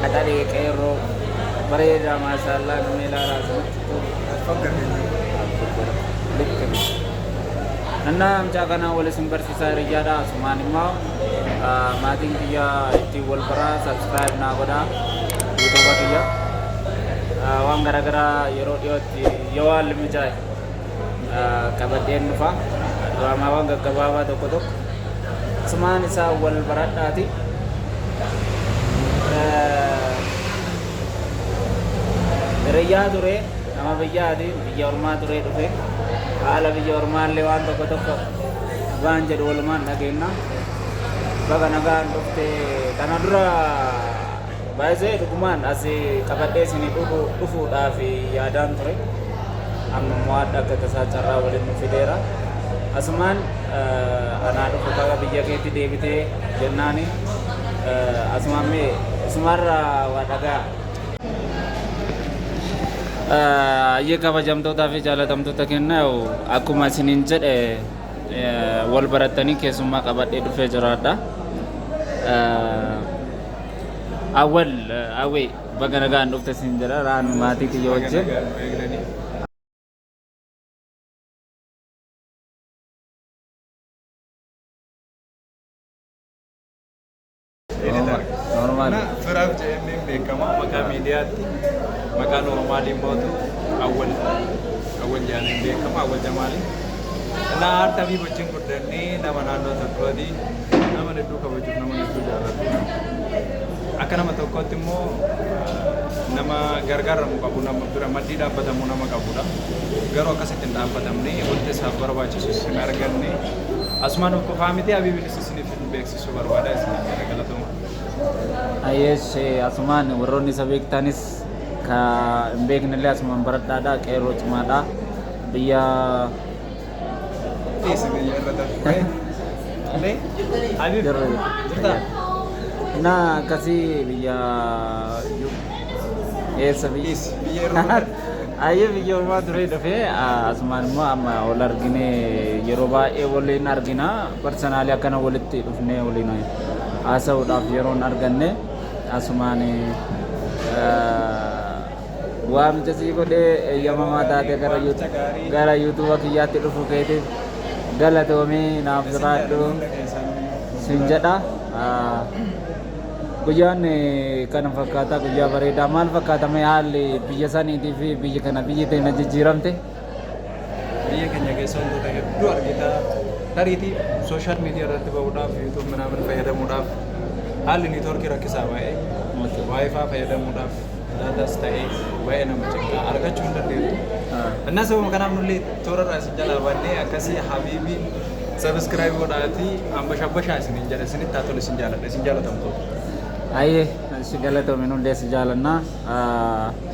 qaxalee qeerroo bareedaa maashaallaa namni ilaalaa asumatti tolu likke annaa amcaa kanaa wal isin barsiisaa hiriyyaadha asumaan immoo maatiin kiyya ittiin wal baraa sabskiraayib naa godhaa yuutuuba kiyya waan garaagaraa yeroo dhiyootti yoo haalli mijaa'e qabadheen dhufa. Diraamaawwan gaggabaabaa tokko tokko asumaan isaa wal baradhaati. Hiriyyaa ture nama biyyaati biyya ormaa ture dhufe haala biyya ormaallee waan tokko tokko waan jedhu walumaan dhageenna. Baga nagaan dhufte kana dura By the dhugumaan as qabadhee isin dhufuudhaaf yaadaan ture amma immoo adda akka tasaa carraa waliin nu fideera asumaan anaa dhufu kaga biyya keetti deebitee jennaani asumaan mee isumaarra waa dhagaa Ayyee kabajamtootaa fi jaalatamtoota kenna akkuma isiniin jedhe wal barattanii keessummaa qabadhee dhufee jiraadha. Awwal awwee baga nagaan dhufte siin jedha raanu maatii kiyya wajjin. Normaal. Firaaf jedhamee beekama maqaa miidiyaatti maqaan Oromaaliin mootu awwal awwal jedhamee beekama awwal jamaali. Naa harta fi gochiin guddannee nama naannoo tokkooti. nama hedduu kabajuuf nama hedduu jaalatu akka nama tokkootti immoo nama gargaaramu qabu nama bira maddii dhaabbatamu nama qabudha garuu akkasitti hin dhaabbatamne wanti isaaf barbaachisus hin arganne asumaan of qofaa miti habiibinis isiniif hin beeksisu barbaada isiniif jala galatoma. Ayees asumaan warroonni isa beektanis ka hin beeknellee asumaan baradhaadha qeerroo cimaadha biyya na akkasii biyya eessa biyya ayyee biyya ormaa turee dhufee asumaan immoo amma wal argine yeroo baay'ee waliin argina parsanaalii akkana walitti dhufnee waliin haasa'uudhaaf yeroon arganne asumaan Waamicha sii godhee eeyyamamaa taatee gara YouTube gara YouTube kiyyaatti dhufu keetiif galatoomii naaf jiraadhu sin jedha. Guyyaan kana fakkaata guyyaa bareedaa maal fakkaata mee haalli biyya saniitii fi biyyi kana biyyi teenya jijjiiramte. Biyya keenya keessa wantoota hedduu argita. Tariitii sooshaal miidiyaa irratti bahuudhaaf yuutuub minaamin fayyadamuudhaaf haalli niitoorkii rakkisaa baay'ee waayifaa fayyadamuudhaaf daataas ta'ee baay'ee nama cinqaa argachuu hin dandeenyu. Innaa sababa kanaaf nullee toora irraa isin jalaa baannee akkasii habiibii sabiskiraayib godhaatii ambashabbashaa isiniin jedha isinitti haa tolu isin jaaladha isin jaalatamtoota. Ayyee si galatoomi nullee si jaalannaa.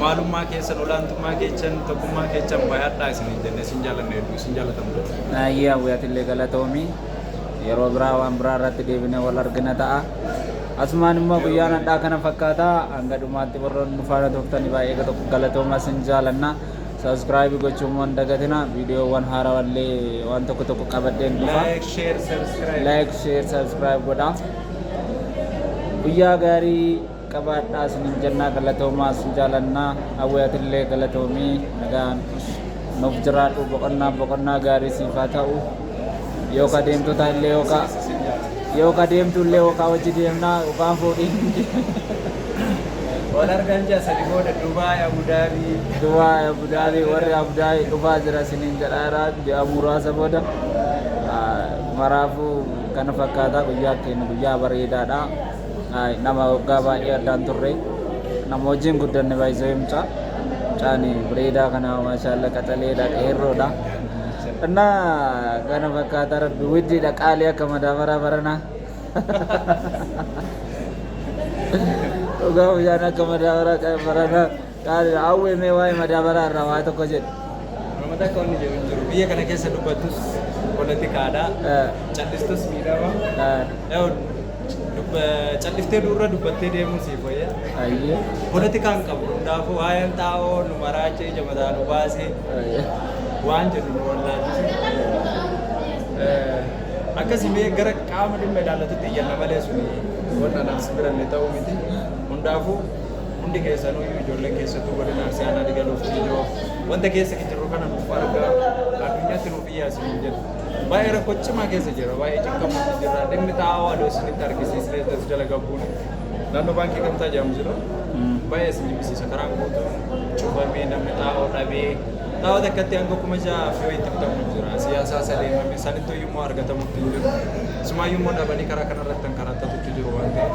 Maalummaa keessan olaantummaa keechan tokkummaa keechan bayadhaa isinin jenne isin jaalanna hedduu isin jaalatamtoota. Hayyee Hawwii atillee galatoomi. Yeroo biraa waan biraa irratti deebinee wal argina ta'a. Asumaan immoo Yeroo guyyaan gaarii. hadhaa kana fakkaata. Hanga dhumaatti warroonni nu faana turtanii baay'ee tokko galatoomaa isin jaalanna. Subscribe gochuu immoo hin dagatina. Viidiyoowwan haarawaa illee waan tokko tokko qabadheen dhufa. Like, share, subscribe. Like, share, subscribe godhaa. Guyyaa gaarii. qabaadhaa isinin jennaa galatoomaa sin jaalannaa hawwee atillee galatoomii nagaan nuuf jiraadhu boqonnaa boqonnaa gaarii siif haa ta'u yooka deemtu ta'ellee yooka yooka deemtu illee yooka hojii deemnaa yookaan fuudhiin Wal argan jaa sadi booda Dubaay Abudaabii. Dubaay Abudaabii warri Abudaabii dhufaa jira isiniin jedhaara ji'a muraasa booda maraafuu kana fakkaataa guyyaa keenya guyyaa bareedaadha. Nama waggaa baay'ee addaan turre. Nama wajjin guddanne baay'isee mucaa. Mucaan bareedaa kana maashaalla qaxaleedha qeerroodha. Innaa kana fakkaata rabbi widdiidha qaalii akka madaabaraa baranaa. Dhugaa mucaan akka madaabaraa baranaa. Qaali Awwee mee waa'ee madaabaraa irraa waa tokko jedhi. Nama takka wanni jedhu hin jiru. Biyya kana keessa dubbattus poolitikaadha. Eh. Callistus miidhama. Eh. Yoo dubba- Calliftee duurra dubbattee deemuun siif wayya. Ayyee. Poolitikaan qabu hundaafuu waa'een xaa'oo nu maraachee ija mataa nu baasee Ayyee. waan jedhu nu wallaalchise. Eh, Akkasii mee gara qaama dhimma ilaallatutti iyyanna malee suni wanna naas biranne ta'uu miti. Hundaafuu Hundi keessanuu iyyuu ijoolleen keessattuu godina Arsii Aanaa Digaluuf Ciijoo wanta keessa jirru kana nuuf argaa addunyaatti nuuf iyyaa isiniin jedha. Baay'ee rakkoo cimaa keessa jira. Baay'ee cinqamuutti jira. Dhimmi xaa'oo adoo isinitti argisiisnee as jala gabbuun naannoo baankii gamtaa jedhamu jira. Baay'ee isin jibbisiisa. Karaan guutuun cufamee namni xaa'oo dhabee xaa'oo takkatti hanga kuma ja'a fi wayiitti bitamu jira. Siyaasaa sadeemame sanittuu iyyuu immoo argatamutti hin jiru. Sumaayyuu immoo dhabanii karaa kanarratti kan karattatutti jiru waan ta'eef.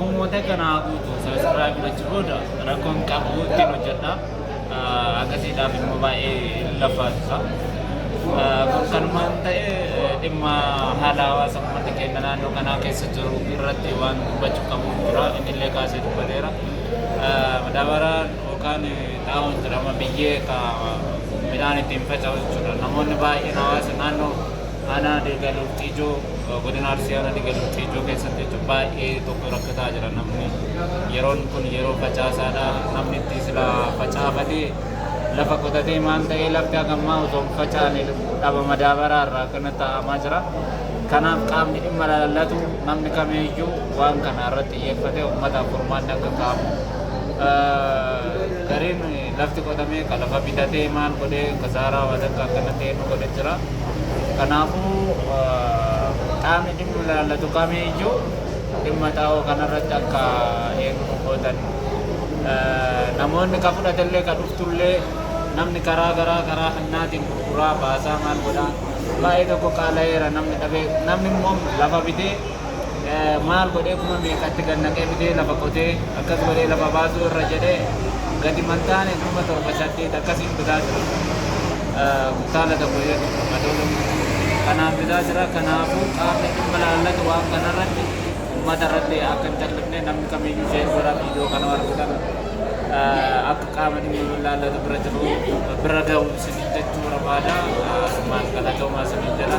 Uummata kana haa guutu sabiskiraayib gochuu booda rakkoo hin qabu ittiin hojjedha. Akkasiidhaaf immoo baay'ee lafaasisa. Kun kanumaan ta'e dhimma haala hawaasa uummata keenya naannoo kanaa keessa jiru irratti waan dubbachuu qabu jira. Innillee kaasee dubbateera. Madaabaraan yookaan xaa'oon jedhama biyyee ka midhaan ittiin faca'u jechuudha. Namoonni baay'een hawaasa naannoo Aanaa Deegaa Lorxiijoo godina Arsii aanaa Deegaa Lorxiijoo keessatti jechuun baay'ee tokko rakkataa jira namni yeroon kun yeroo facaasaadha namni itti sila facaafatee lafa qotatee maal ta'ee lafti hagammaa osoo hin facaane dhaba madaabaraa irraa akkana taa'amaa jira. Kanaaf qaamni dhimma ilaallatu namni kamiyyuu waan kana irratti xiyyeeffatee uummataaf furmaanni akka kaa'amu gareen Lafti qotamee ka lafa bitatee maal godhee kasaaraa waan akka akkana ta'e nu godhe jira. Kanaafuu qaamni dhimmi ilaallatu kamii iyyuu dhimma xaa'oo kanarratti akka eegnu gootan namoonni ka fudhatellee ka dhuftullee namni karaa garaa karaa hannaatiin gurguraa baasaa maal godhaa baay'ee tokko qaala'eera namni dhabee namni immoo lafa bitee maal godhee kuma meeqatti gad naqee fidee lafa qotee akkas godhee lafa baasuu irra jedhee gadi mantaane kuma torba saddeet akkasiin bitaa jira. Saala tokko jechuudha madoo tokko. Kanaan bitaa jira kanaafuu qaamni dhimma laallatu waan kanarratti uummata irratti akka hin callifne namni kamiyyuu ishee godha viidiyoo kana argitan akka qaama dhimma laallatu bira jiru bira gahu isiniin jechuu barbaada. Asumaan galatoomaa isiniin jedha.